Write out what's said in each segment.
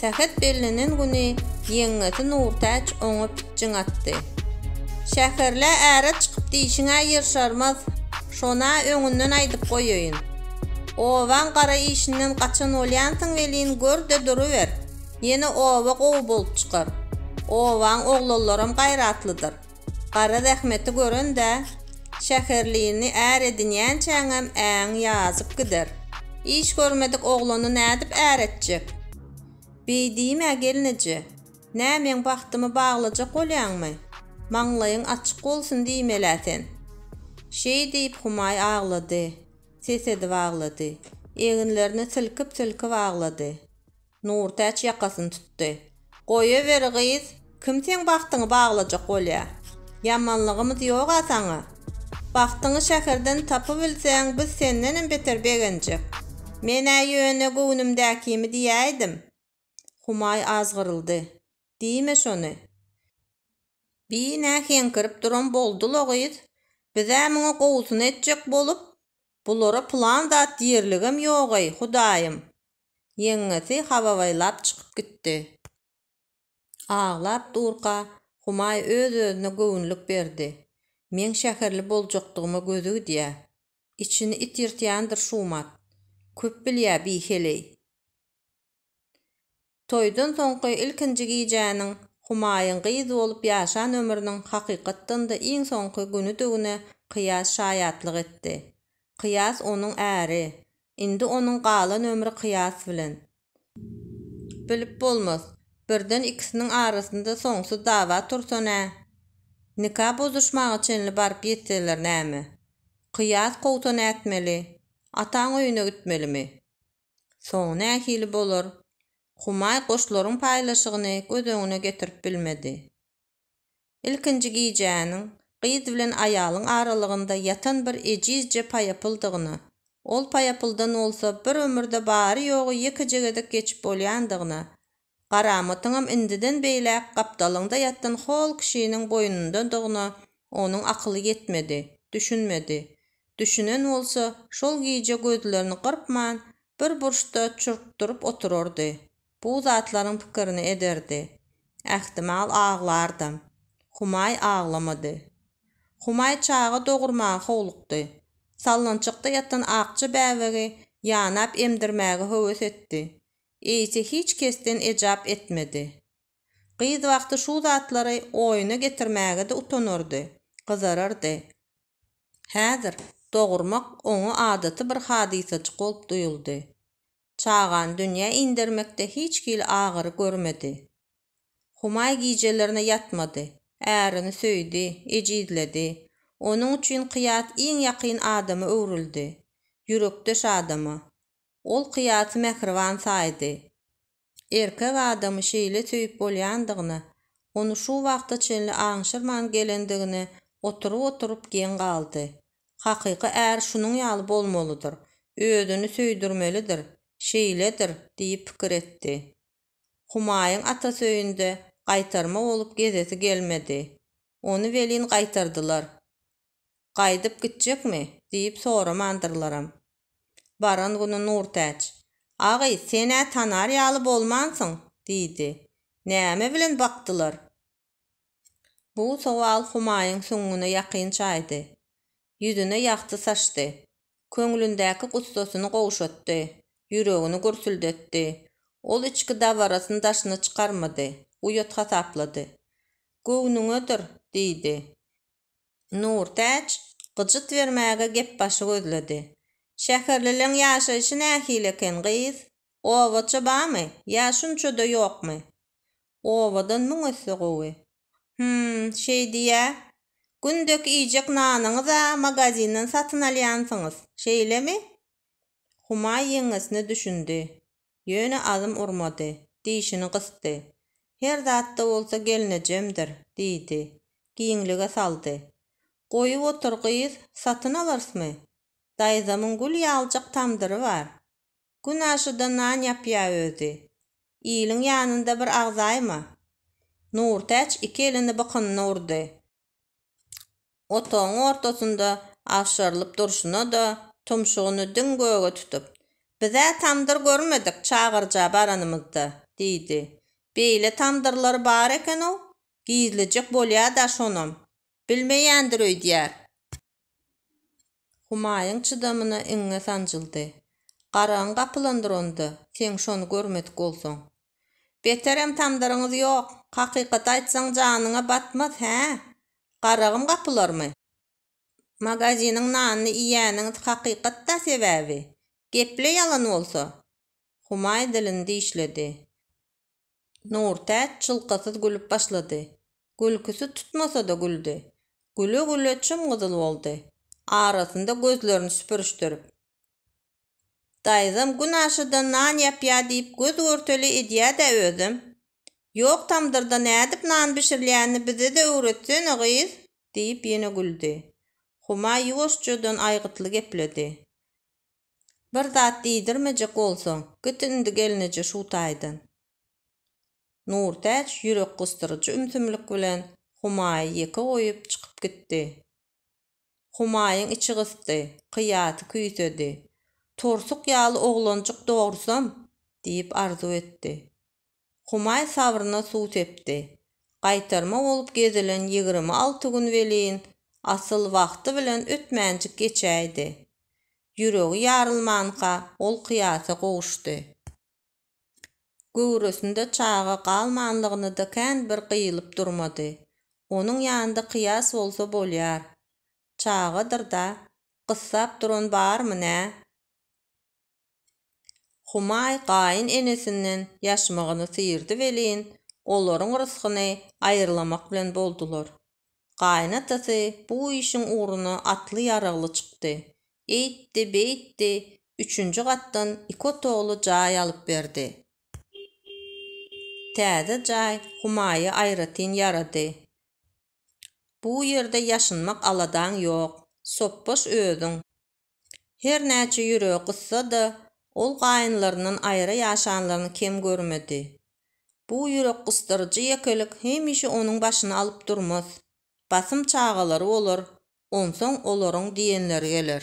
Sähet bellenen güni ýeňňesi Nurtäç oňa pitjiň atdy. Şäherlä äre çykyp diýşiň-ä ýer şarmaz, şon-a öňünden aýdyp goýaýyn. Obaň gara işinden gaçan bolýansyň welin, gör-de duruber, ýene oba gowy bolup çykar. Obaň oglanlaram gaýratlydyr. Gara zähmeti gören-dä, şäherlini är edinýänçäňem äň ýazyp gider. Iş görmedik oglany nädip är etjek? Beý diýme, gelneje. Nä, meň bagtymy baglajak bolýaňmy? Maňlaýyň açyk bolsun diýmel-ä sen! Şeý diýip, Humaý aglady. Ses edip aglady. Eginlerini silkip-silkip aglady. Nurtäç ýakasyny tutdy. Goýawer, gyz, kim seň bagtyňy baglajak bolýa? Ýamanlygymyz ýog-a saňa. Bagtyňy şäherden tapybilseň, biz sendenem beter begenjek. Men-ä ýöne göwnümdäkimi diýäýdim. Humaý azgyryldy. Diýme şony. Bi nä heňkirip duran boldy-la, gyz? Biz-ä muňa gowusyny etjek bolup, bulara pylan zat diýerligem ýog-eý, hudaýym. Ýeňňesi hababaýlap çykyp gitdi. Aglap durka, Humaý öz-özüne göwünlik berdi. Meň şäherli boljakdygyma gözi gidýä. Içini it ýyrtýandyr Şumat. Köp bilýä bi heleý. Toýdan soňky ilkinji gijäniň Humaýyň gyz bolup ýaşan ömrüniň hakykatdan-da iň soňky günüdigine Kyýas şaýatlyk etdi. Kyýas onuň äri, Indi onuň galan ömri kyýas bilen. Bilip bolmaz. Birden ikisiniň arasynda soňsuz dawa tursa nä? Nika bozuşmaga çenli baryp ýetseler näme? Kyýas kowsa nätmeli? Ataň öýüne gitmelimi? Soňy nähili bolar? Humaý goşlaryň paýlaşygyny göz öňüne getirip bilmedi. Ilkinji gijäniň gyz bilen aýalyň aralygynda ýatan bir ejizje paýapyldygyna, ol paýapyldan bolsa bir ömürde bary-ýogy ýekeje gezek geçip bolýandygyna, garamatyňam indiden beýläk gapdalyňda ýatan hol kişiniň boýnundadygyna onuň akyly ýetmedi, düşünmedi. Düşünen bolsa, şol gije gözlerini gyrpman, bir burçda çurkduryp oturardy. Bu zatlaryň pikirini ederdi. Ähtimal aglardam. Humaý aglamady. Humaý çaga dogurmaga howlukdy. Sallançakda ýatan akja bäbegi ýanap emdirmäge höwes etdi. Eýse hiç kesden ejap etmedi. Gyz wagty şu zatlary oýuna getirmäge-de utanardy, gyzarardy. Häzir dogurmak oňa adaty bir hadysajyk bolup duýuldy. çagany dünýä indermekde hiç hili agyry görmedi. Humaý gijelerine ýatmady, ärini söýdi, ejizledi, onuň üçin Kyýat iň ýakyn adama öwrüldi, ýürekdeş adama. Ol Kyýaty mähriban saýdy. Erkek adamy şeýle söýüp bolýandygyna, ony şu wagta çenli aňşyrman gelendigine oturyp-oturyp geň galdy. Hakyky är şunuň ýaly bolmalydyr, özüni söýdürmelidir, şeýledir diýip pikir etdi. Humaýyň atasy öýünde gaýtarma bolup gezesi gelmedi. Ony welin gaýtardylar. Gaýdyp gitjekmi? diýip soramandyrlaram. Baran güni Nurtäç, Agy, sen-ä tanar ýaly bolmansyň, diýdi. Näme bilen bakdylar? Bu sowal Humaýyň süňňüne ýakyn çaýdy. Ýüzüne ýagty saçdy. Köňlündäki gussasyny gowşatdy. Ýüregini gürsüldetdi. Ol içki dabarasyny daşyna çykarmady. Uýat hasaplady. Göwnüňedir, diýdi. Nurtäç gyjyt bermäge gepbaşy gözledi. Şäherlileň ýaşaýşy nähili eken, gyz? Obaça bamy, ýa şunça-da ýokmy? Owadan müň esse gowy. Hüm, şeý diýýä. Gündeky iýjek nanyňyz-a magazinden satyn alýansyňyz, şeýlemi? Humaý ýeňňesine düşündi. Ýöne azm urmady. Dişini gysdy. Her zat-da bolsa gelnejemdir, diýdi. Giňlige saldy. Goýup otur, gyz, satyn alarsmy? Daýzamyň gül ýaljak tamdyry bar. Gün aşuda nan ýapýa özi. Iliň ýanynda bir agzaýma. Nurtäç iki elini bykynyna urdy. Otagyň ortasynda agşarylyp durşuna-da, tumşugyny diň göge tutup, Biz-ä tamdyr görmedik çagyrja baranymyzda, diýdi. Beýle tamdyrlar bar eken-ow, gizlijek bolýa-da şonam. Bilmeýändir öýdýär. Humaýyň çydamyna iňňe sanjyldy. Garagyň gapylandyr onda, seň şony görmedik bolsaň. Beterem tamdyryňyz ýok. Hakykaty aýtsaň janyňa batmaz, hä? Garagym gapylarmy? Magaziniň nanyny iýýäniňiz hakykat-da sebäbi. Gep-le ýalan bolsa? Humaý dilini dişledi. Nurtäç çylkasyz gülüp başlady. Gülküsi tutmasa-da güldi. Güle-güle çym-gyzyl boldy. Arasynda gözlerini süpürişdirip. Daýzam gün aşa-da nan ýapýa diýip göz-görtele edýä-dä özem. Ýok tamdyrda nädip nan bişirilýänini bize-de öwretsene, gyz! diýip ýene güldi. Huma ýuwaşjadan aýgytly gepledi. Bir zat diýdirmejek bolsaň, git indi gelneje şu taýdan. Nurtäç ýürek gysdyryjy ümsümlik bilen Humaýy ýeke goýup çykyp gitdi. Humaýyň içi gysdy, kyýasy küýsedi. Tursuk ýaly oglanjyk dogursam! diýip arzuw etdi. Humaý sabryna suw sepdi. Gaýtarma bolup gezilen ýigrimi alty gün welin, asyl, wagty bilen ötmänjik geçäýdi. Ýüregi ýarylmanka, ol Kyýasa gowuşdy. Göwresinde çaga galmanlygyny-da kän bir gyýylyp durmady. Onuň ýanynda Kyýas bolsa bolýar. Çagadyr-da, gyssap duran barmy nä? Humaý gaýyn enesinden ýaşmagyny syýrdy welin, olaryň rysgyny aýyrlamak bilen boldular. Gaýyn atasy bu işiň ugruna atly ýaragly çykdy. Eýtdi, beýtdi, üçünji gatdan iki otagly jaý alyp berdi. Täze jaý Humaýa aýratyn ýarady. Bu ýerde ýaşynmak aladaň ýok. Sopbaş özüň. Her näçe ýüregi gyssa-da, ol gaýynlaryndan aýra ýaşanlaryny kem görmedi. Bu ýürekgysdyryjy ýekelik hemişe onuň başyny alyp durmaz. Basym çagalary bolar, onsoň olaryň diýenleri geler.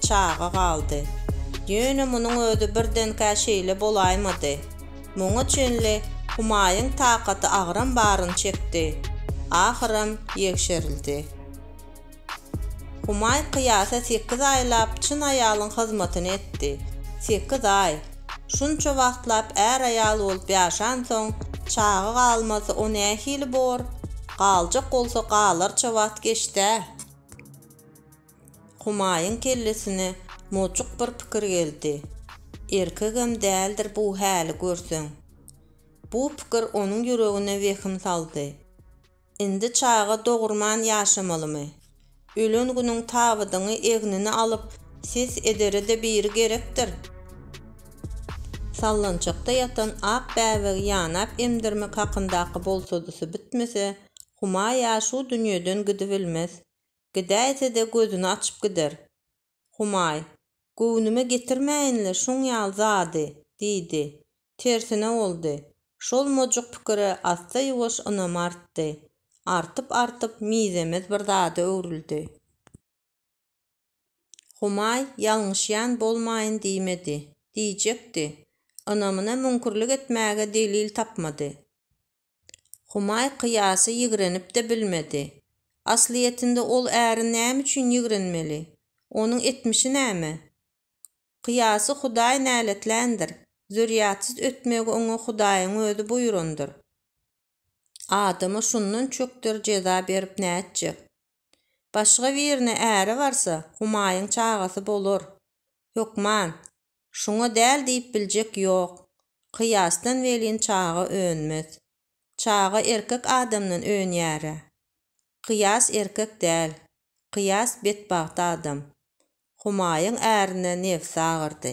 çaga galdy. Ýöne munuň özi birdenkä şeýle bolaýmady. Muňa çenli Humaýyň takaty agram baryny çekdi. Ahyram ýegşerildi. Humaý kyýasa sekiz aýlap çyn aýalyň hyzmatyny etdi. Sekiz aý! Şunça wagtlap är-aýal bolup ýaşansoň, çaga galmasa o nähili bor? Galjak bolsa galarça wagt geçd-ä! Humaýyň kellesine mojuk bir pikir geldi. Erkegem däldir bu häli görseň. Bu pikir onuň ýüregine wehim saldy. Indi çaga dogurman ýaşamalymy? Ölen günüň tabydyňy egnine alyp ses edere-de biri gerekdir. Sallançakda ýatan ak bäbegi ýanap emdirmek hakyndaky bolsadysy bitmese, Humaý-a şu dünýeden gidibilmez. Gidäýse-de gözüni açyp gider. Humaý, Göwnüme getirmäýin-le şuň ýaly zady, diýdi. Tersine boldy. Şol mojuk pikire assa-ýuwaş ynamy artdy. Artyp-artyp, mizemez bir zada öwrüldi. Humaý ýalňyşýan bolmaýyn diýmedi. Diýjekdi. Ynamyna müňkürlik etmäge delil tapmady. Humaý Kyýasy ýigrenip-de bilmedi. Aslyýetinde ol äri näme üçin ýigrenmeli? Onuň etmişi näme? Kyýasy Hudaý näletländir. Zürýatsyz ötmegi oňa Hudaýyň özi buýrandyr. Adama şundan çökder jeza berip nätjek? Başga birine äre barsa, Humaýyň çagasy bolar. Hökman, şuňa däl diýip biljek ýok. Kyýasdan welin çaga önmez. Çaga erkek adamdan önýär-ä. Kyýas erkek däl. Kyýas betbagt adam. Humaýyň ärine nebsi agyrdy.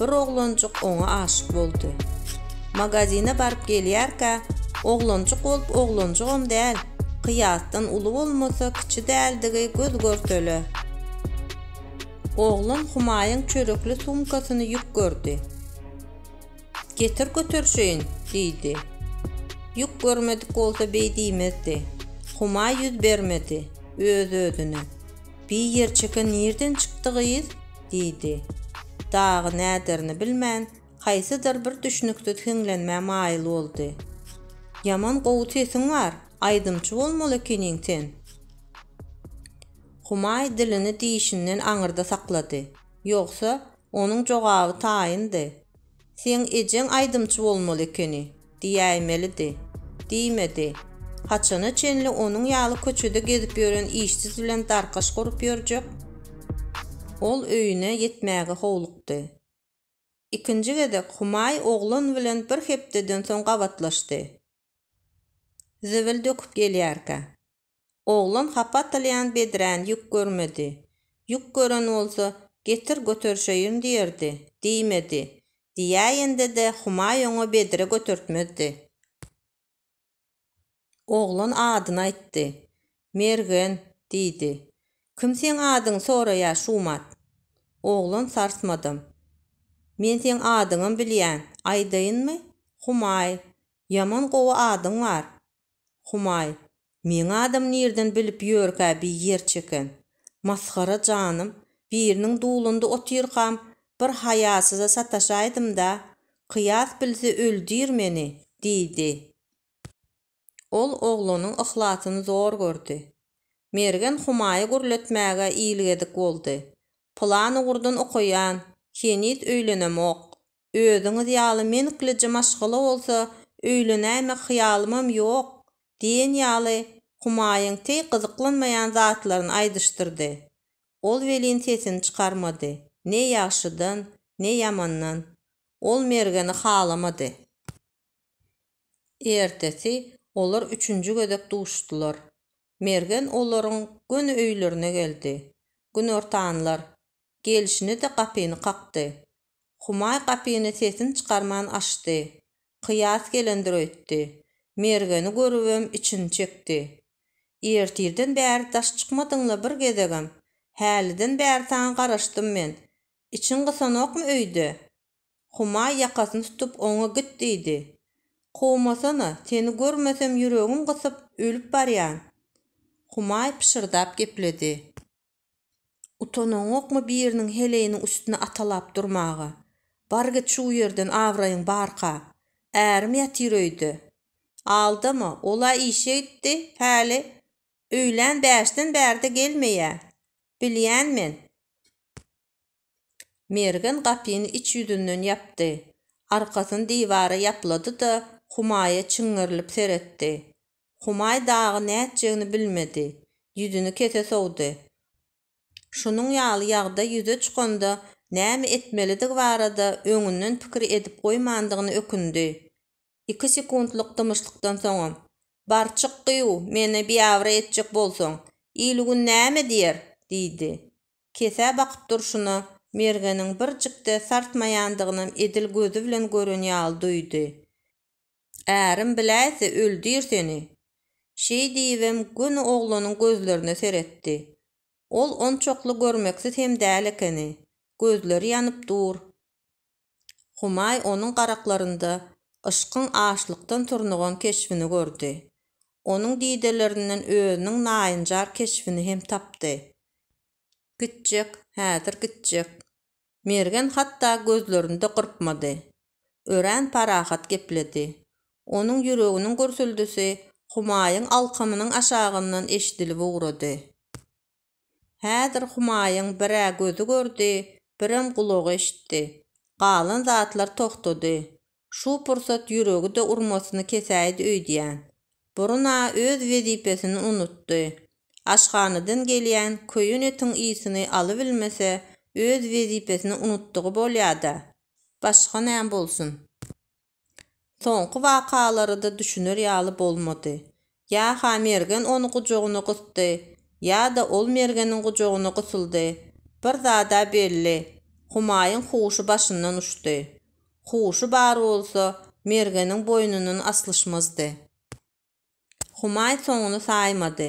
bir oglanjyk oňa aşyk boldy. Magazine baryp gelýärkä, oglanjyk bolup oglanjygam däl, kyýasdan uly bolmasa kiçi däldigi göz görtele. Oglan Humaýyň çörekli sumkasyny ýük gördi. Getir göterişeýin, diýdi. Ýük görmedik bolsa beý diýmezdi. Humaý ýüz bermedi, öz-özüne. Bi ýerçeke nirden çykdy gyz? diýdi. Dagy näderini bilmän, haýsydyr bir düşnüksiz hiňlenmä maýyl boldy. Ýaman gowy sesiň bar, aýdymçy bolmaly ekeniň sen. Humaý dilini dişinden aňyrda saklady. Ýogsa, onuň jogaby taýyndy. Seň ejeň aýdymçy bolmaly ekeni, diýäýmelidi. Diýmedi. Haçana çenli onuň ýaly köçede gezip ýören işsiz bilen darkaş gurup ýörjek? Ol öýüne ýetmäge howlukdy. Ikinji gezek Humaý oglan bilen bir hepdeden soň gabatlaşdy. Zibil döküp gelýärkä. Oglan hapa atylýan bedräni ýük görmedi. Ýük gören bolsa, Getir, göterişeýin diýerdi. Diýmedi. Diýäýende-de Humaý oňa bedre götertmezdi. Oglan adyny aýtdy. Mergen, diýdi. Kim seň adyňy soraýar, Şumat? Oglan sarsmadam. Men seň adyňam bilýän. Aýdaýynmy? Humaý, ýaman gowy adyň bar. Humaý, meň adam nirden bilip ýörkä bi ýer çeken. Masgara janym, biriniň dulunda otyrkam bir haýasyza sataşaýdym-da, kyýas bilse öldir meni, diýdi. Ol oglanyň yhlasyny zor gördi. Mergen Humaýy gürletmäge ilgedik boldy. Plan ugurdan okaýan, heniz öýlenemok. Özüňiz ýaly menklije maşgala bolsa öýlenäýmek hyýalymam ýok, diýen ýaly Humaýyň teý gyzyklanmaýan zatlaryny aýdyşdyrdy. Ol welin sesini çykarmady, ne ýagşydan, ne ýamandan. Ol Mergeni halamady. Ertesi olar üçünji gezek duşdular. Mergen olaryň göni öýlerine geldi. Günortanlar. Gelşine-de gapyny kakdy. Humaý gapyny sesini çykarman açdy. Kyýas gelendir öýtdi. Mergeni görübem içini çekdi. Ertirden bäri daş çykmadyň-la bir gezegem. Häliden bäri saňa garaşdym men. Içiň gysanokmy öýde? Humaý ýakasyny tutup oňa git diýdi. Kowmasana, seni görmesem ýüregim gysyp, ölüp barýan. Humaý pyşyrdap gepledi. Utanaňokmy biriniň heleýiniň üstüne atalap durmaga? Bar git şu ýerden abraýyň barka. Ärim ýatyr öýde. Aldama, ol-a işe gitdi, päli, öýlän bäşden bärde gelmeýä. Bilýän men. Mergen gapyny iç ýüzünden ýapdy. Arkasyny diwara ýaplady-da, Humaýa çiňňerilip seretdi. Humaý dagy nätjegini bilmedi. Ýüzüni kese sowdy. Şunuň ýaly ýagdaý ýüze çykanda näme etmelidigi barada öňünden pikir edip goýmandygyna ökündi. Iki sekuntlyk dymyşlykdan soňam, Bar çyk gyýw, meni biabraý etjek bolsaň, il-gün näme diýer? diýdi. Kesä bakyp durşuna, Mergeniň birjik-de sarsmaýandygynam edil gözi bilen gören ýaly duýdy. Ärim biläýse öldür seni! Şeý diýibem göni oglanyň gözlerine seretdi. Ol onçakly görmeksiz hem däl ekeni. Gözleri ýanyp dur. Humaý onuň garaklarynda yşkyň açlykdan turnugan keşbini gördi. Onuň didelerinden özüniň naýynjar keşbini hem tapdy. Gitjek, häzir gitjek. Mergen hatda gözlerini-de gyrpmady. Örän parahat gepledi. Onuň ýüreginiň gürsüldisi Humaýyň alkymynyň aşagyndan eşidilip ugrady. Häzir Humaýyň bir-ä gözi gördi, birem gulagy eşitdi. Galan zatlar togtady. Şu pursat ýüregi-de urmasyny kesäýdi öýdýän. Burun-a öz wezipesini unutdy. Aşhanadan gelýän köýen etiň ysyny alybilmese, öz wezipesini unutdygy bolýa-da. Başga näm bolsun? Soňky wakalary-da düşüner ýaly bolmady. Ýa-ha Mergen ony gujagyna gysdy, ýa-da ol Mergeniň gujagyna gysyldy, bir zad-a belli, Humaýyň huşy başyndan uçdy. Huşy bar bolsa, Mergeniň boýnundan aslyşmazdy. Humaý soňuny saýmady.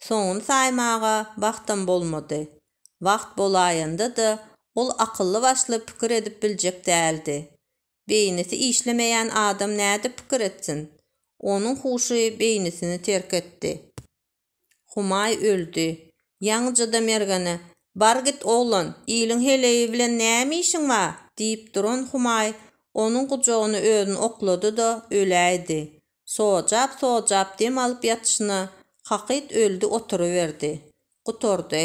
Soňuny saýmaga wagtam bolmady. Wagt bolaýanda-da, ol akylly-başly pikir edip biljek däldi. Beýnisi işlemeýän adam nädip pikir etsin? Onuň huşy beýnisini terk etdi. Humaý öldi. Ýaňyja-da Mergene, Bar git, oglan, iliň heleýi bilen näme işiň bar? diýip duran Humaý onuň gujagyny özüni oklady-da, öläýdi. Sojap-sojap dem alyp ýatyşyna kakyt öldi oturyberdi. Gutardy.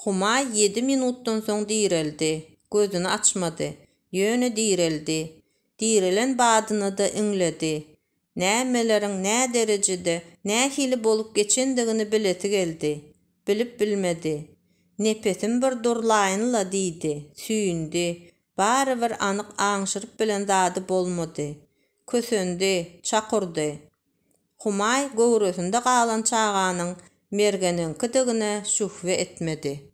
Humaý ýedi minutdan soň direldi. Gözüni açmady. Ýöne direldi. Direlen badyna-da iňledi. Nämeleriň nä derejede, nähili bolup geçendigini bilesi geldi. Bilip bilmedi. Nepesim bir durlaýyn-la diýdi. Süýndi. Barybir anyk aňşyryp bilen zady bolmady. Kösendi, çakurdy. Humaý göwresinde galan çaganyň Mergeniňkidigine şühbe etmedi.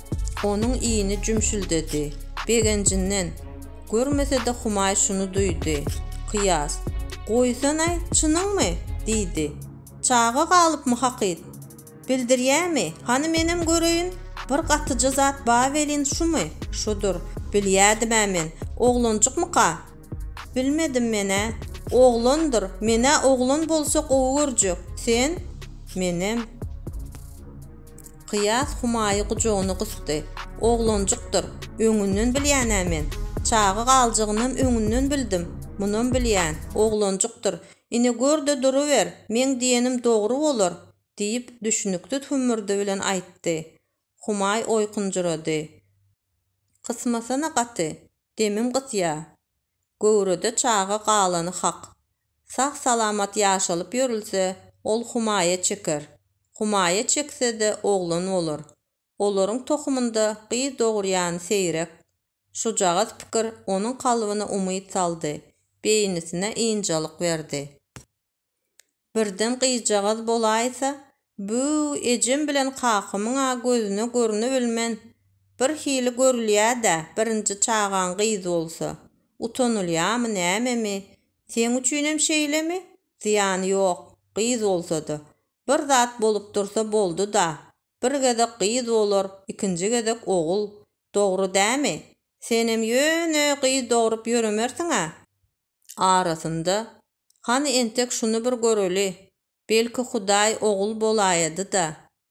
Onuň iýni jümşüldedi. Begenjinden. Görmese-de Humaý şuny duýdy. Kyýas. Goýsana-aý, çynyňmy? diýdi. Çaga galypmy hakyt? Bildirýämi? Hany menem göreýin. Bir gatyja zat ba welin şumy? Şudur. Bilýädim-ä men. Oglanjykmyka? Bilmedim men-ä. Oglandyr. Men-ä oglan bolsa gowy görjek. Sen? Menem. Kyýas Humaýy gujagyna gysdy. Oglanjykdyr. Öňünden bilýän-ä men. Çaga galjagynam öňünden bildim. Munam bilýän. Oglanjykdyr. Ine gör-de duruber, meň diýenim dogry bolar, diýip, düşnüksiz hümmürdi bilen aýtdy. Humaý oýkunjyrady. Gysmasana gaty. Demim gysýa. Göwrede çaga galany hak. Sag-salamat ýaşalyp ýörülse, ol humaýa çeker. Humaýa çekse-de oglan bolar. Olaryň tohumynda gyz dogurýan seýrek. Şujagaz pikir onuň kalbyna umyt saldy, beýnisine ynjalyk berdi. Birden gyzjagaz bolaýsa, Bü-üw, ejem bilen kakamyň-a gözüne görünibilmen, bir hili görülýä-dä, birinji çagaň gyz bolsa. Utanylýamy, nämemi? Seň üçinem şeýlemi? Zyýany ýok, gyz bolsa-da. Bir zat bolup dursa boldy-da. Bir gezek gyz bolar, ikinji gezek ogul. Dogry dämi? Senem ýöne gyz dogrup ýöremersiň-ä. Arasynda Hany entek şuny bir göreli, belki Hudaý ogul bolaýady-da,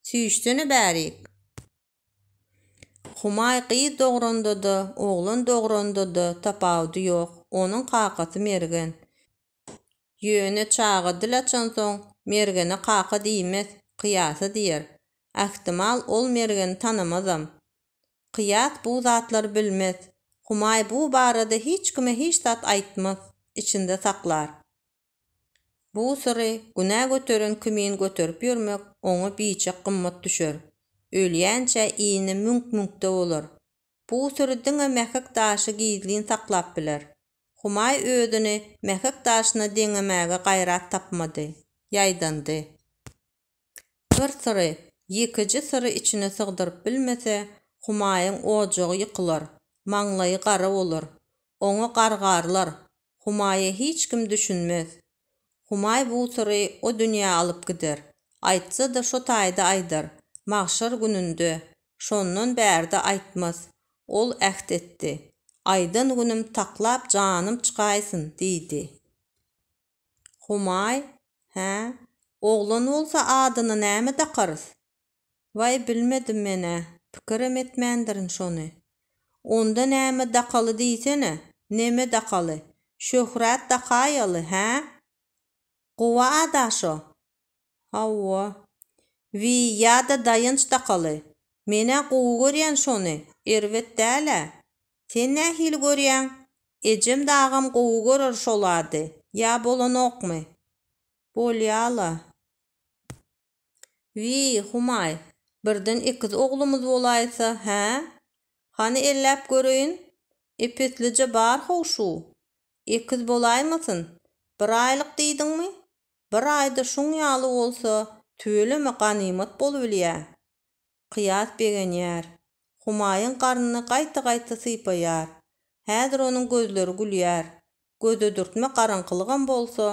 süýşsene bärik! Humaý gyz dogranda-da, oglan dogranda-da tapawudy ýok, onuň kakasy Mergen. Ýöne çaga dil açansoň, Mergene kaka diýmez, kyýasa diýer. Ähtimal, ol Mergeni tanamazam. Kyýas bu zatlary bilmez. Humaý bu barada hiç kime hiç zat aýtmaz, içinde saklar. Bu syry günä göteren kimin göterip ýörmek oňa biçak gymmat düşer. Ölýänçä ini müňk-müňkde bolar. Bu syry diňe Mähek daşy gizlin saklap biler. Humaý özüni Mähek daşyna deňemäge gaýrat tapmady. Ýaýdandy. Bir syry ýekeje syry içine sygdyryp bilmese, Humaýyň ojagy ýykylar, maňlaýy gara bolar. Oňa gargarlar, Humaýa hiç kim düşünmez. Humaý bu syry o dünýä alyp gider. Aýtsa-da şo taýda aýdar, magşar gününde. Şondan bärde aýtmaz. Ol äht etdi. Aýdan günüm taklap janym çykaýsyn, diýdi. Humaý, Hä, oglan bolsa adyny näme dakarys? Waý, bilmedim men-ä, pikirem etmändirin şony. Onda näme dakaly diýsene, neme dakaly, Şöhrat dakaýaly, hä? Guba-a daşo, Hawa. Wiý, ýa-da Daýanç dakaly. Men-ä gowy görýän şony, erbet däl-ä. Sen nähili görýäň? Ejem-de agam gowy görer şo zady. Ýa bolanokmy? Bolýa-la. Wiý, Humaý, birden ekiz oglumyz bolaýsa, hä? Hany elläp göreýin. Epeslije bar-how şu. Ekiz bolaýmasyn? Bir aýlyk diýdiňmi? Bir aýda şuň ýaly bolsa, tüweleme ganymat bolubilýä. Kyýas begenýär. Humaýyň garnyny gaýta-gaýta sypaýar. Häzir onuň gözleri gülýär. Gödedürtme garaňkylygam bolsa,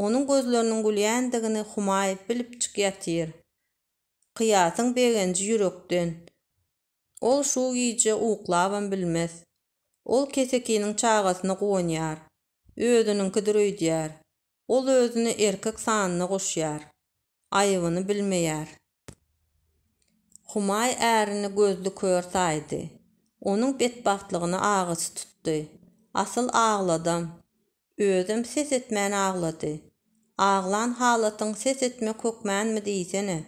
onuň gözleriniň gülýändigini Humaý bilipjik ýatyr. Kyýasyň begenji ýürekden. Ol şu gije uklabam bilmez. Ol kesekiniň çagasyna guwanýar. Özüniňkidir öýdýär. Ol özüni erkek sanyna goşýar. Aýybyny bilmeýär. Humaý ärini gözli kör saýdy. Onuň betbagtlygyna agysy tutdy. Asyl agladam. Özem ses etmän aglady. Aglan halatyň ses etmek hökmänmi diýsene.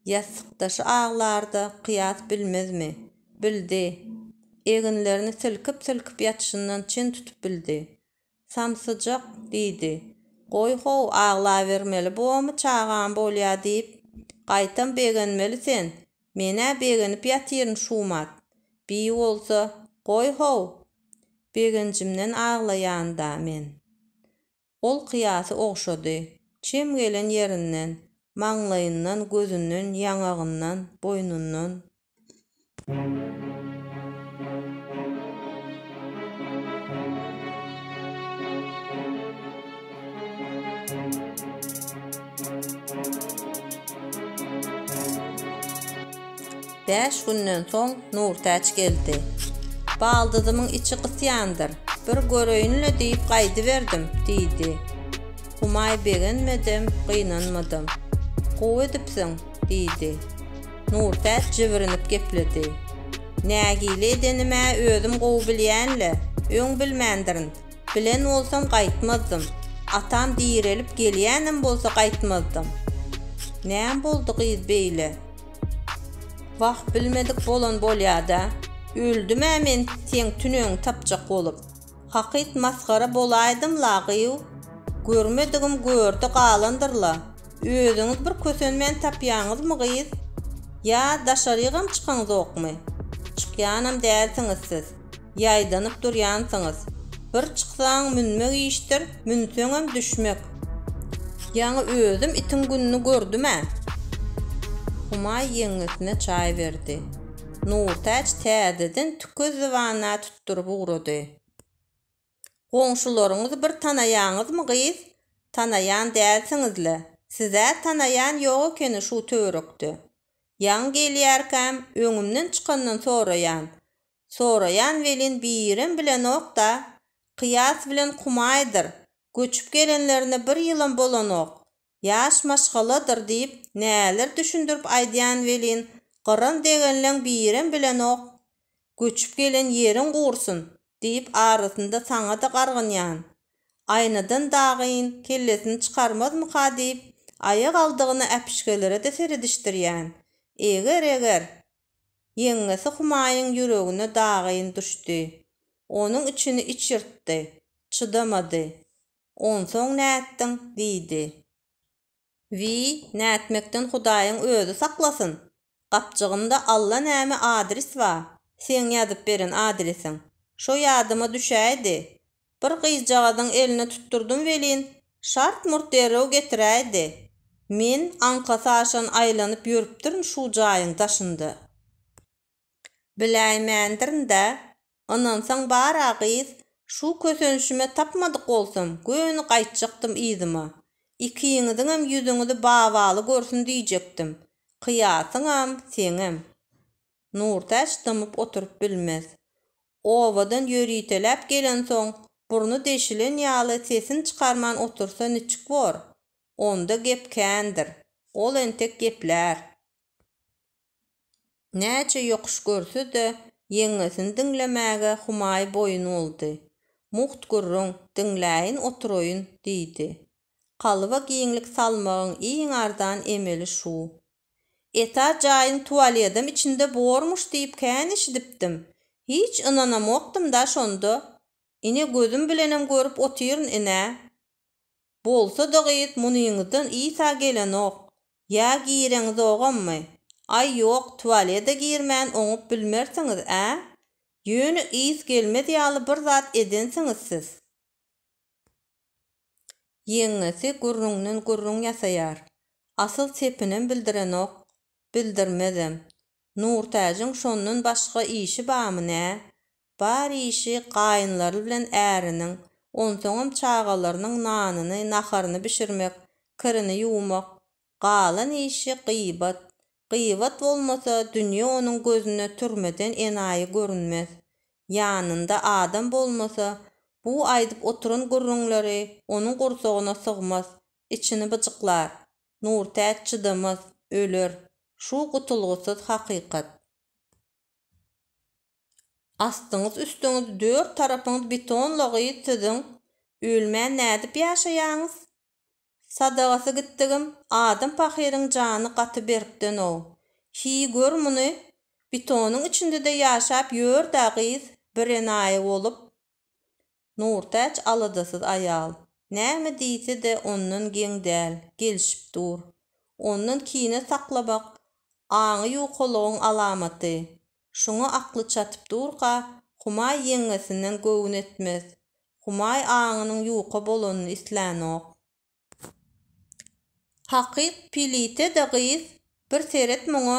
Ýassykdaşy aglar-da Kyýas bilmezmi? Bildi. Eginlerini silkip-silkip ýatyşyndan çen tutup bildi. Samsyjak, diýdi. Goý-how, aglabermeli bomy çagam bolýa diýip, gaýtam begenmeli sen, Men-ä begenip ýatyryn Şumat. Beýi bolsa, goý-how! Begenjimden aglaýan-da men. Ol kyýasy ogşady. Çem gelen ýerinden, maňlaýyndan, gözünden, ýaňagyndan, boýnundan. Bäş günden soň Nurtäç geldi. Baldyzymyň içi gysýandyr, bir göreýin-le diýip gaýdyberdim, diýdi. Humaý begenmedem, gynanmadym. Gowy edipsiň, diýdi. Nurtäç jibrinip gepledi. Nägile edenim-ä özüm gowy bilýän-le, öň bilmändirin. Bilen bolsam gaýtmazdym. Atam direlip gelýänem bolsa gaýtmazdym. Näme boldy gyz beýle? Wah, bilmedik bolan bolýa-da. Öldüm-ä men seň tüneňi tapjak bolup. Hakyt masgara bolaýdym-la, gyýw. Görmedigim görde galandyr-la. Özüňiz bir kösenmän tapýaňyzmy, gyz? Ýa daşarygam çykaňzokmy? Çykýanam dälsiňiz siz. Ýaýdanyp durýansyňyz. Bir çyksaň münmek işdir, münseňem düşmek. Ýaňy özüm itiň gününi gördüm-ä. Humaý ýeňňesine çaý berdi. Nurtäç täzeden tükezli wanna tutduryp ugrady. Goňşularyňyzy bir tanaýaňyzmy, gyz? Tanaýan dälsiňiz-le. Siz-ä tanaýan ýok ekeni şu töwerekde. Ýaňy gelýärkäm, öňümden çykandan soraýan. Soraýan welin birem bilenok-da, Kyýas bilen Kumaýdyr, göçüp gelenlerine bir ýylam bolanok, ýaş maşgaladyr diýip näler düşündirip aýdýan welin gyran degenleň birem bilenok, göçüp gelen ýeriň gursyn diýip arasynda saňa-da gargynýan, aýnadan dagyn kellesini çykarmazmyka diýip aýagaldygyna äpişgelere-de seredişdirýän, eger-eger. Ýeňňesi Humaýyň ýüregine dagyn düşdi. Onuň içini iç ýyrtdy. Çydamady. Onsoň nätdiň? diýdi. Wiý, nätmekden Hudaýyň özi saklasyn! Gapjygymda allanäme adris bar. Seň ýazyp beren adresiň. Şo ýadyma düşäýdi. Bir gyzjagazyň eline tutdurdym welin, şart-murt derrew getiräýdi. Men aňkasy aşan aýlanyp ýörüpdirin şu jaýyň daşynda. Biläýmändirin-dä. Ynansaň bar-a gyz, şu kösenişime tapmadyk bolsam, göni gaýtjakdym yzyma. Ikiňiziňem ýüzüňizi Babaly görsün diýjekdim. Kyýasyňam, seňem. Nurtäç dymyp oturyp bilmez. Obadan ýöriteläp gelensoň, burny deşilen ýaly sesini çykarman otursa niçik bor? Onda gep kändir. Ol entek geplär. Näçe ýokuş görse-de, ýeňňesini diňlemäge humaýy boýun boldy. Mugt gürrüň, diňläýin oturaýyn, diýdi. Kalba giňlik salmagyň iň arzan emeli şu. Eta jaýyň tualedem içinde bormuş diýip kän eşidipdim. Hiç ynanamokdym-da şonda. Ine gözüm bilenem görüp otyryn ine. Bolsa-da gyz munyňyzdan isa gelenok. Ýa gireňizogammy? Aý ýok, tualede girmän oňup bilmersiňiz-ä? Ýöne ys gelmez ýaly bir zat edensiňiz siz. Ýeňňesi gürrüňden gürrüň ýasaýar. Asyl sepinem bildirenok, bildirmezem. Nurtäjiň şondan başga işi bamy nä? Bar işi gaýynlary bilen äriniň, onsoňam çagalarynyň nanyny, naharyny bişirmek, kirini ýuwmak, Galan işi gybat. Gybat bolmasa, dünýe onuň gözüne türmeden enaýy görünmez. Ýanynda adam bolmasa, bu aýdyp oturan gürrüňleri onuň gursagyna sygmaz, içini byjyklar. Nurtäç çydamaz, öler. Şu gutulgysyz hakykat. Astyňyz-üstüňiz, dört tarapyňyz beton-la gyz siziň. Ölmän nädip ýaşaýaňyz? Sadagasy gitdigim adam pahyryň jany gaty berkden-ow. Hiý gör muny, betonyň içinde-de ýaşap ýör-dä gyz birenaýy bolup. Nurtäç aladasyz aýal. Näme diýse-de ondan geň däl, gelşip dur. Ondan kine saklamak aňy ýukalygyň alamaty. Şuňa akly çatyp durka, Humaý ýeňňesinden göwün etmez. Humaý aňynyň ýuka bolanyny islänok. Hakyt pilite-de gyz, bir seret muňa,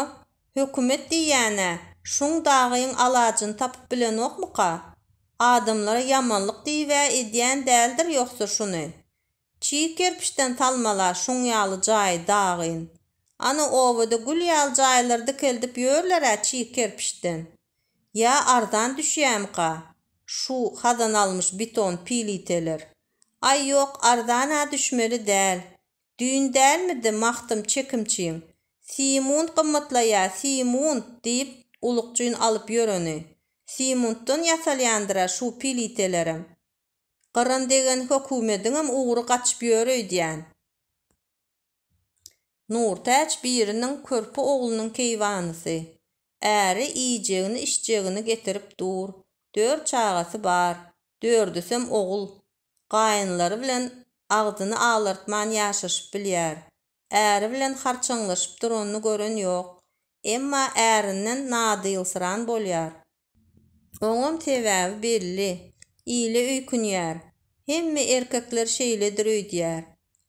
hökümet diýýän-ä, şuň dagyň alajyny tapyp bilenokmyka? Adamlara ýamanlyk diýib-ä edýän däldir ýogsy şuny? Çig kerpiçden salmala şuň ýaly jaý dagyn. Ana obada gül ýaly jaýlar dikeldip ýörler-ä çig kerpiçden. Ýa arzan düşýämika şu hazanalmyş biton piliteler. Aý ýok arzan-a düşmeli däl. Düýn dälmidi Magtym çekimçiň Simunt gymmatlaýa Simunt diýip ulukjyn alyp ýöreni. Simuntdan ýasalýandyr-a şu pilitelerem. Gyran degen hökümediňem ugry gaçyp ýör öýdýän. Nurtäç biriniň körpe oglunyň keýwanysy. Äri iýjegini-içjegini getirip dur. Dört çagasy bar. Dördüsem ogul. Gaýynlary bilen agzyny alartman ýaşaşyp bilýär. äri bilen harçaňlaşyp duranyny gören ýok. Emma ärinden nadylsyran bolýar. Oňam sebäbi belli, ile öýkünýär, hemme erkekler şeýledir öýdýär.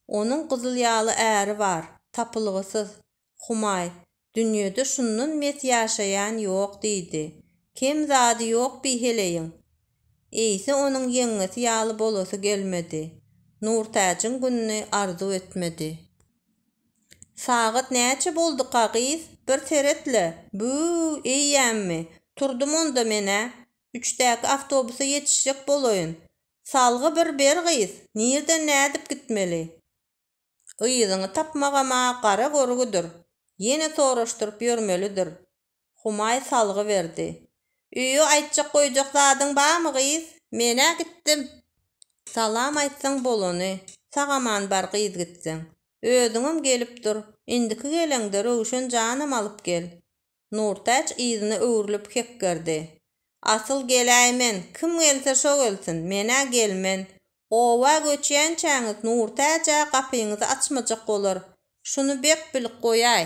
Onuň gyzyl ýaly äri bar, tapylgysyz, Humaý, Dünýede şundan mes ýaşaýan ýok, diýdi. Kem zady ýok bi heleýiň. Eýse onuň ýeňňesi ýaly bolasy gelmedi. Nurtäjiň gününi arzuw etmedi. Sagat näçe bolduka, gyz? Bir seret-le! Bü-ü-ü, eýýämmi? Turdum onda men-ä. Üçdäki awtobusa ýetişjek bolaýyn. Salgy bir ber, gyz! Nirden nädip gitmeli? Yzyňy tapmagam-a gara görgüdir. Ýene soraşdyryp ýörmelidir. Humaý salgy berdi. Öýe aýtjak-goýjak zadyň bamy, gyz? Men-ä gitdim. Salam aýtsaň bolany. Sag-aman bar gyz gitseň. Özüňem gelip dur. Indiki geleňde Röwşen janam alyp gel. Nurtäç yzyna öwrülip hekgerdi. Asyl geläý men, kim gelse şo gelsin, men-ä gelmen. Oba göçýänçäňiz Nurtäç-ä gapyňyzy açmajak bolar, şuny bek bilip goýaý.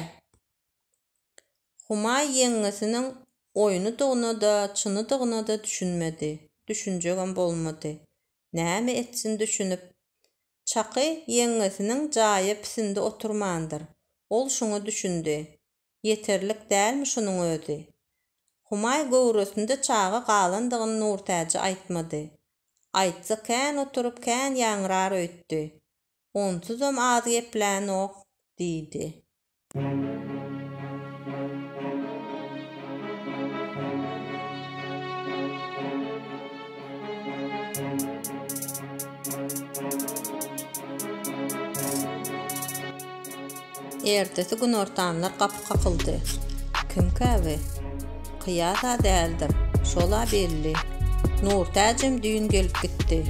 Humaý ýeňňesiniň oýnudygyna-da, çynydygyna-da düşünmedi. Düşünjegem bolmady. Näme etsin düşünip? Çaky ýeňňesiniň jaýa pisindi oturmandyr. Ol şuňa düşündi. Ýeterlik dälmi şunuň özi? Humaý göwresinde çaga galandygyny Nurtäje aýtmady. Aýtsa kän oturyp kän ýaňrar öýtdi. Onsuzam az geplänok, diýdi. Ertesi günortanlar gapy kakyldy. Kimkä bi? Kyýas-a däldir. Şol-a belli. Nurtäjem düýn gelip gitdi.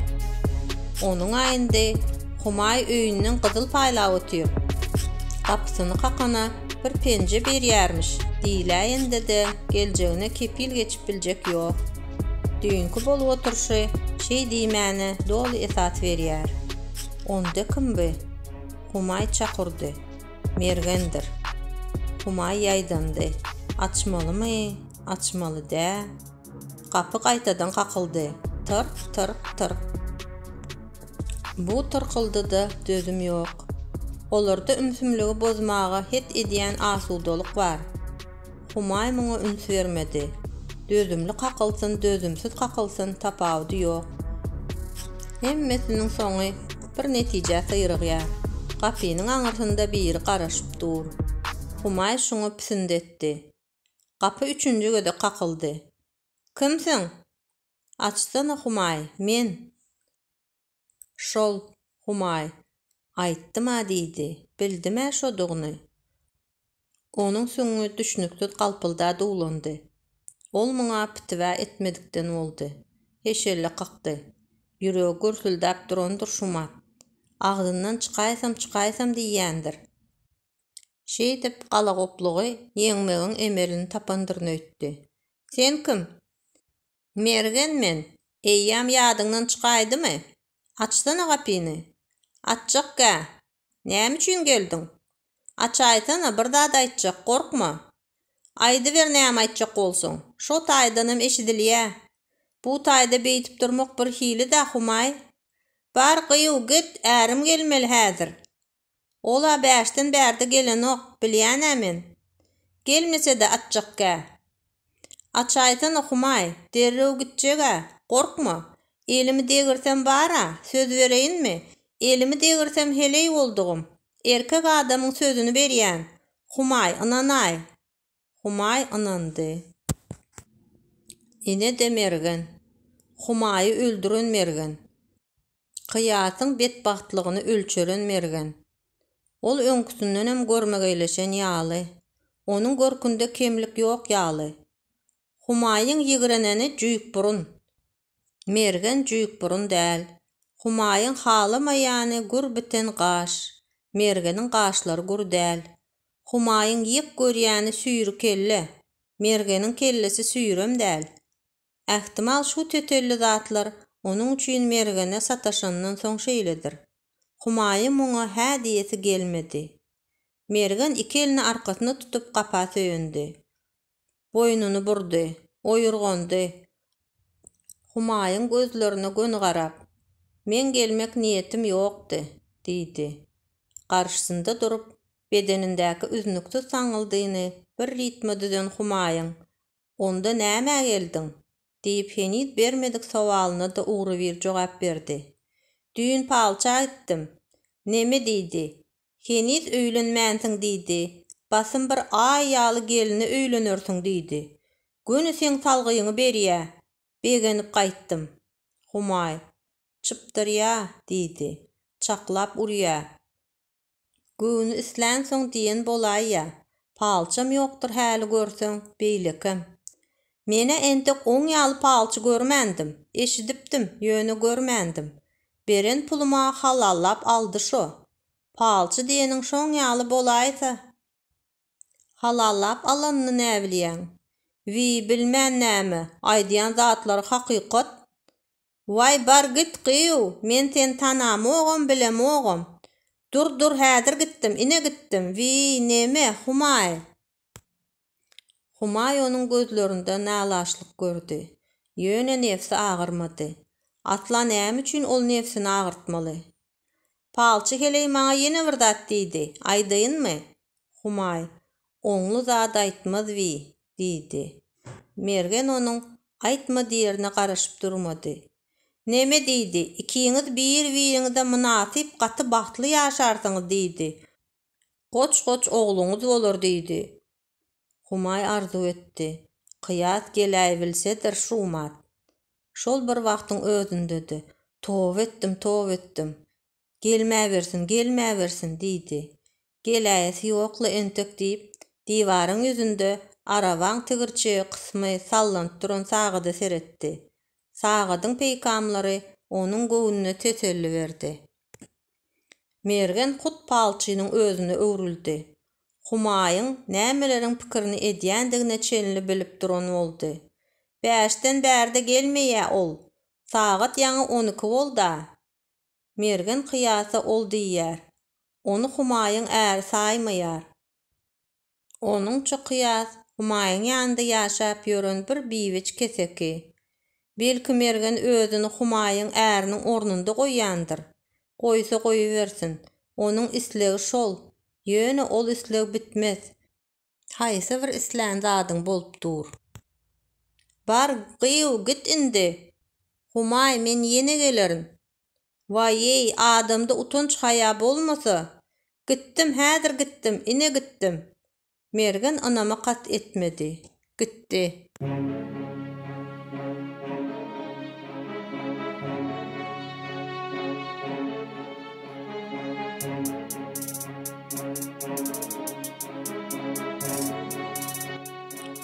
Onuň-a indi Humaý öýünden gyzyl paýlap otyr. Gapysyny kakana bir penje berýärmiş diýiläýende-de geljegine kepil geçip biljek ýok. Düýnki bolup oturyşy şeý diýmäne doly esas berýär. Onda kim bi? Humaý çakurdy. Mergendir. Humaý ýaýdandy. Açmalymy, açmaly dä? Gapy gaýtadan kakyldy. Tyrk, tyrk, tyrk. Bu tyrkyldyda dözüm ýok. Olarda ümsümligi bozmaga het edýän asudalyk bar. Humaý muňa üns bermedi. Dözümli kakylsyn, dözümsiz kakylsyn, tapawudy ýok. Hemmesiniň soňy bir netijä syrygýar. Gapynyň aňyrsynda biri garaşyp dur. Humaý şuňa pisindi etdi. Gapy üçünji gezek kakyldy. Kimsiň? Açsana, Humaý, men. Şol, Humaý, aýtdym-a diýdi. Bildim-ä şodugyny. Onuň süňňi düşnüksiz galpylda duwlandy. Ol muňa pitiwä etmedikden boldy. Heşelle kakdy. Ýüregi gürsüldäp durandyr Şumat. Agzyndan çykaýsam çykaýsam diýýändir. Şeýdip galagoplugy ýeňmegiň emelini tapandyryn öýtdi. Sen kim? Mergen men, eýýäm ýadyňdan çykaýdymy? Açsana gapyny. Açjakgä. Näme üçin geldiň? Açaýsana, bir zat aýtjak, gorkma. Aýdyber näme aýtjak bolsaň. Şo taýdanam eşidilýä. Bu taýda beýdip durmak birhili-dä, Humaý. Bar gyýw, git, ärim gelmeli häzir. Ol-a bäşden bärde gelenok, bilýän-ä men. Gelmese-de atjakgä. Açaýsana, Humaý, derrew gitjeg-ä, gorkma. Elimi degirsem bar-a, söz bereýinmi? Elimi degirsem heleý boldugym. Erkek adamyň sözüni berýän, Humaý, ynanaý. Humaý ynandy. Ine-de Mergen. Humaýy öldüren Mergen. Kyýasyň betbagtlygyny ölçeren Mergen. Ol öňküsindenem görmegeýleşen ýaly. Onuň görkünde kemlik ýok ýaly. Humaýyň ýigreneni jüýkburun. Mergen jüýkburun däl. Humaýyň halamaýany gür biten gaş. Mergeniň gaşlary gür däl. Humaýyň ýyk görýäni süýri kelle. Mergeniň kellesi süýrem däl. Ähtimal şu tötelli zatlar onuň üçin Mergene sataşandan soň şeýledir. Humaýy muňa hä diýesi gelmedi. Mergen iki elini arkasyna tutup gapa söýündi. boýnuny burdy, oýurgandy. Humaýyň gözlerine göni garap, Meň gelmek niýetim ýokdy, diýdi. Garşysynda durup, bedenindäki üznüksiz saňňyldyny bir ritme düzen Humaýyň, Onda nämä geldiň? diýip heniz bermedik sowalyna-da ugrubir jogap berdi. Düýn palça aýtdym. Neme diýdi? Heniz öýlenmänsiň diýdi. Basym bir aý ýaly gelne öýlenersiň diýdi. Göni seň salgyýňy berýä. Begenip gaýtdym. Humaý. Çypdyrýa, diýdi. Çaklap urýa. Göwni islänsoň diýen bolaýýa. Palçam ýokdur häli görseň, beýlekem. Men-ä entek oň ýaly palçy görmändim. Eşidipdim, ýöne görmändim. Beren puluma halallap aldy şo. Palçy diýeniň şoň ýaly bolaýsa. Halallap alanyny näbilýäň? Wiý, bilmen näme, aýdýan zatlary hakykat. Waý, bar git, gyýw, men seni tanamogam, bilemogam. Dur, dur, häzir gitdim, ine gitdim. Wiý, neme, Humaý? Humaý onuň gözlerinde nalaşlyk gördi. Ýöne nebsi agyrmady. Asla näme üçin ol nebsini agyrtmaly? Palçy heleý maňa ýene bir zat diýdi. Aýdaýynmy? Humaý, Oňly zat aýtmaz wiý, diýdi. Mergen onuň aýtma diýerine garaşyp durmady. Neme diýdi? Ikiňiz bir-biriňize mynasyp gaty bagtly ýaşarsyňyz diýdi. Goç-goç ogluňyz bolar diýdi. Humaý arzuw etdi. Kyýas geläýbilsedir Şumat. Şol bir wagtyň özünde-de, Toba etdim, toba etdim. Gelmäbersin, gelmäbersin! diýdi. Geläýesi ýok-la entek diýip, diwaryň ýüzünde arabaň tigirçe kysmy sallanyp duran sagada seretdi. Sagadyň peýkamlary onuň göwnüne teselli berdi. Mergen hut palçynyň özüne öwrüldi. Humaýyň nämeleriň pikirini edýändigine çenli bilip duran boldy. Bäşden bärde gelmeýä ol. Sagat ýaňy on iki bolda. Mergen kyýasa ol diýýär. Ony Humaýyň äri saýmaýar. Onuň çykyýas Humaýyň ýanynda ýaşap ýören bir biweç keseki. Belki Mergen özüni Humaýyň äriniň ornunda goýýandyr. Goýsa goýubersin. Onuň islegi şol. Ýöne ol isleg bitmez. Haýsy bir islän zadyň bolup dur. Bar, gyýw, git indi! Humaý, men ýene gelerin. Waý-eý, adamda utanç-haýa bolmasa, Gitdim, häzir gitdim, ine gitdim. Mergen ynama kat etmedi. Gitdi.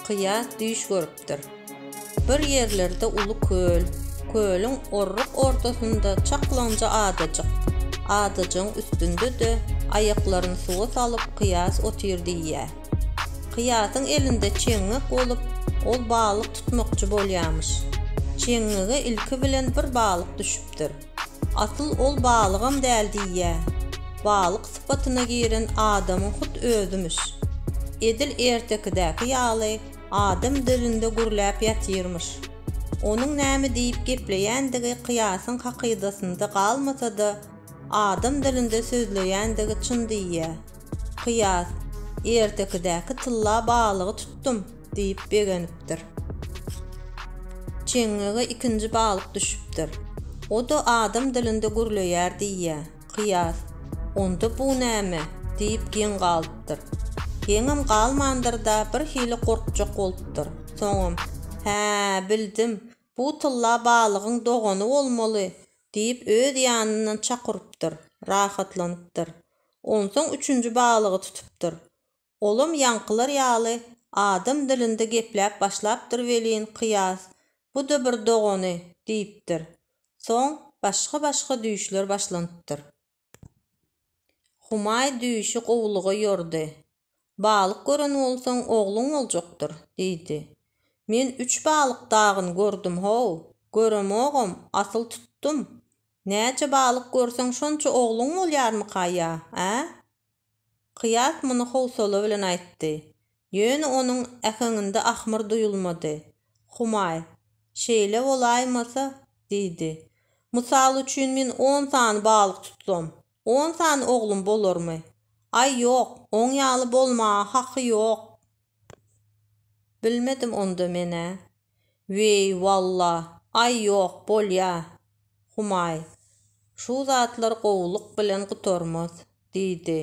Kyýas düýş görüp. geçipdir. Bir ýerlerde uly köl, kölüň orruk ortasynda çaklaňja adajyk, adajygyň üstünde-de aýaklaryny suwa salyp Kyýas otyr diýýär. Kyýasyň elinde çeňňek bolup, ol balyk tutmakçy bolýarmyş. Çeňňege ilki bilen bir balyk düşüpdir. Asyl ol balygam däl diýýär, balyk sypatyna giren adamyň hut özümiş. Edil ertekidäki ýaly, adam dölünde gürläp ýatyrmyş. Onuň näme diýip gepleýändigi kyýasyň hakydasynda galmasa-da, adam dilinde sözleýändigi çyn diýýär. Kyýas, Ertekidäki tylla balygy tutdum diýip begenipdir. Çeňňege ikinji balyk düşüpdir. O-da adam dilinde gürleýär diýýär. Kyýas, Onda bu näme? diýip geň galypdyr. Geňem galmandyr-da, birhili gorkjak bolupdyr. Soňam, Hä, bildim, bu tylla balygyň dogany bolmaly, diýip öz ýanyndan çak urypdyr, rahatlanypdyr. Onsoň üçünji balygy tutupdyr. Olam ýaňkylar ýaly adam dilinde gepläp başlapdyr welin, kyýas, Bu-da bir dogany! diýipdir. Soň başga-başga düýşler başlanypdyr. Humaý düýşi gowulyga ýordy. Balyk gören bolsaň, ogluň boljakdyr, diýdi. Men üç balyk dagyn gördüm-how, göremogam, asyl tutdum. Näçe balyk görseň, şonça ogluň bolýarmyka-ýa, ä? Kyýas muny howsala bilen aýtdy. Ýöne onuň äheňinde ahmyr duýulmady. Humaý, Şeýle bolaýmasa? diýdi. Mysal üçin men on sany balyk tutsam, on sany oglum bolarmy? Aý, ýok, oň ýaly bolmaga haky ýok. Bilmedim onda men-ä. Weý, walla, aý ýok, bolýa, Humaý. Şu zatlar gowulyk bilen gutarmaz, diýdi.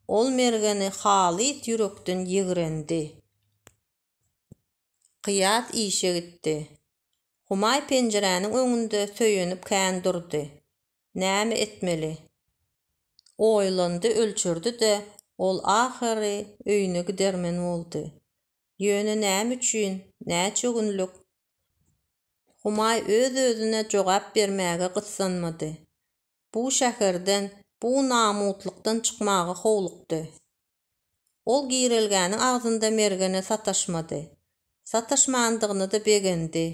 Ol Mergeni halys ýürekden ýigrendi. Kyýas işe gitdi. Humaý penjiräniň öňünde söýenip kän durdy. Näme etmeli? Oýlandy-ölçerdi-de, ol ahyry öýüne gidermen boldy. Ýöne näme üçin, näçe günlük? Humaý öz-özüne jogap bermäge gyssanmady. Bu şäherden, bu namytlykdan çykmaga howlukdy. Ol girelgäniň agzynda Mergene sataşmady. Sataşmandygyna-da begendi.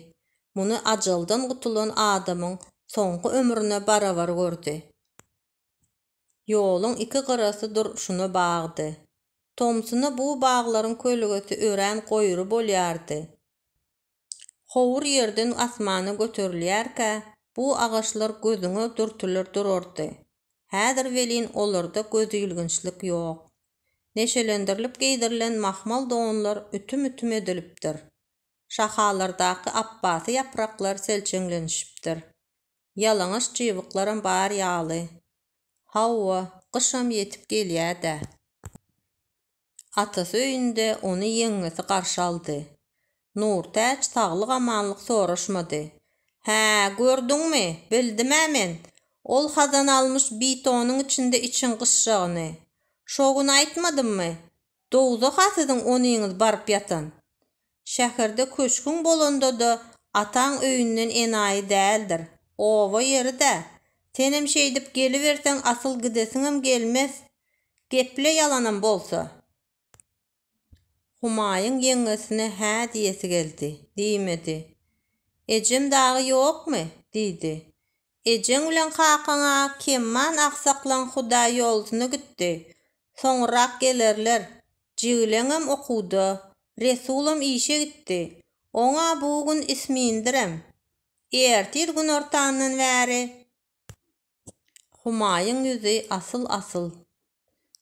Muny ajaldan gutulan adamyň soňky ömrüne barabar gördi. Ýoluň iki gyrasy durşuna bagdy. Tomsuna bu baglaryň kölgesi örän goýry bolýardy. Howur ýerden asmana göterilýärkä, bu agaçlar gözüňe dürtüler durardy. Häzir welin olarda gözilginçlik ýok. Neşelendirilip geýdirilen mahmal donlar ütüm-ütüm edilipdir. Şahalardaky apbasy ýapraklar selçeňlenişipdir. Ýalaňaç çybyklaram bar ýaly. Hawa, gyşam ýetip gelýä-dä. Atasy öýünde ony ýeňňesi garşy aldy. Nurtäç saglyk-amanlyk soraşmady. Hä, gördüňmi, bildim-ä men. Ol Hazan almyş bitonyň içinde içiň gysjagyny. Şo gün aýtmadymmy? Dowzah-a siziň onyňyz baryp ýatan. Şäherde köşgüň bolanda-da ataň öýünden enaýy däldir. Oba ýeri-dä. Senem şeýdip geliberseň asyl gidesiňem gelmez. Geple ýalanam bolsa. Humaýyň ýeňňesine hä diýesi geldi. Diýmedi. Ejem dagy ýokmy? diýdi. Ejeň bilen kakaň-a Kemman aksaklan Hudaý ýolusyna gitdi. Soňurrak gelerler. Jigileňem okuwda. Resulam işe gitdi. Oň-a bu gün ismindirem. Ertir günortandan bäri. Humaýyň ýüzi asyl-asyl.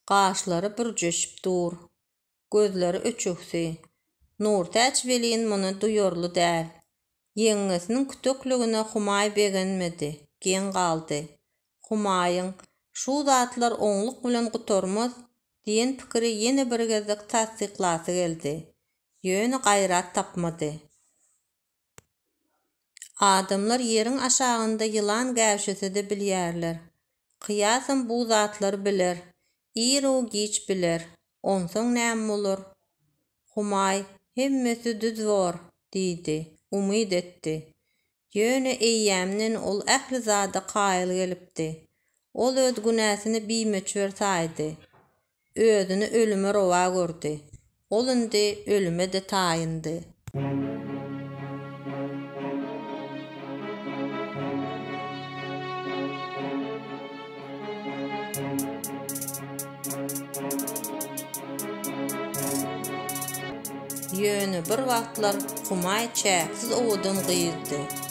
Gaşlary bürjeşip dur. gözleri öçügsi. Nurtäç welin muny duýarly däl. Ýeňňesiniň kütekligine Humaý begenmedi, geň galdy. Humaýyň, Şu zatlar oňluk bilen gutarmaz diýen pikiri ýene bir gezek tassyklasy geldi. Ýöne gaýrat tapmady. Adamlar ýeriň aşagynda ýylan gäwşese-de bilýärler. Kyýasam bu zatlary biler. Ir-u-giç biler. Onsoň näme bolar? Humaý, Hemmesi düz bor, diýdi. Umyt etdi. Ýöne eýýämden ol ähli zada kaýyl gelipdi. Ol öz günäsini bimöçber saýdy. Özüni ölüme rowa gördi. Ol indi ölüme-de taýyndy. Ýöne bir wagtlar Humaý çäksiz owadan gyzdy.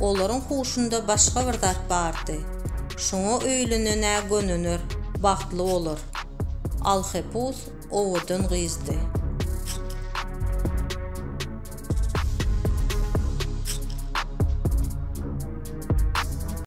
Olaryň huşunda başga bir zat bardy. Şoňa öýlenen-ä gönener, bagtly bolar. Alhepus owadan gyzdy.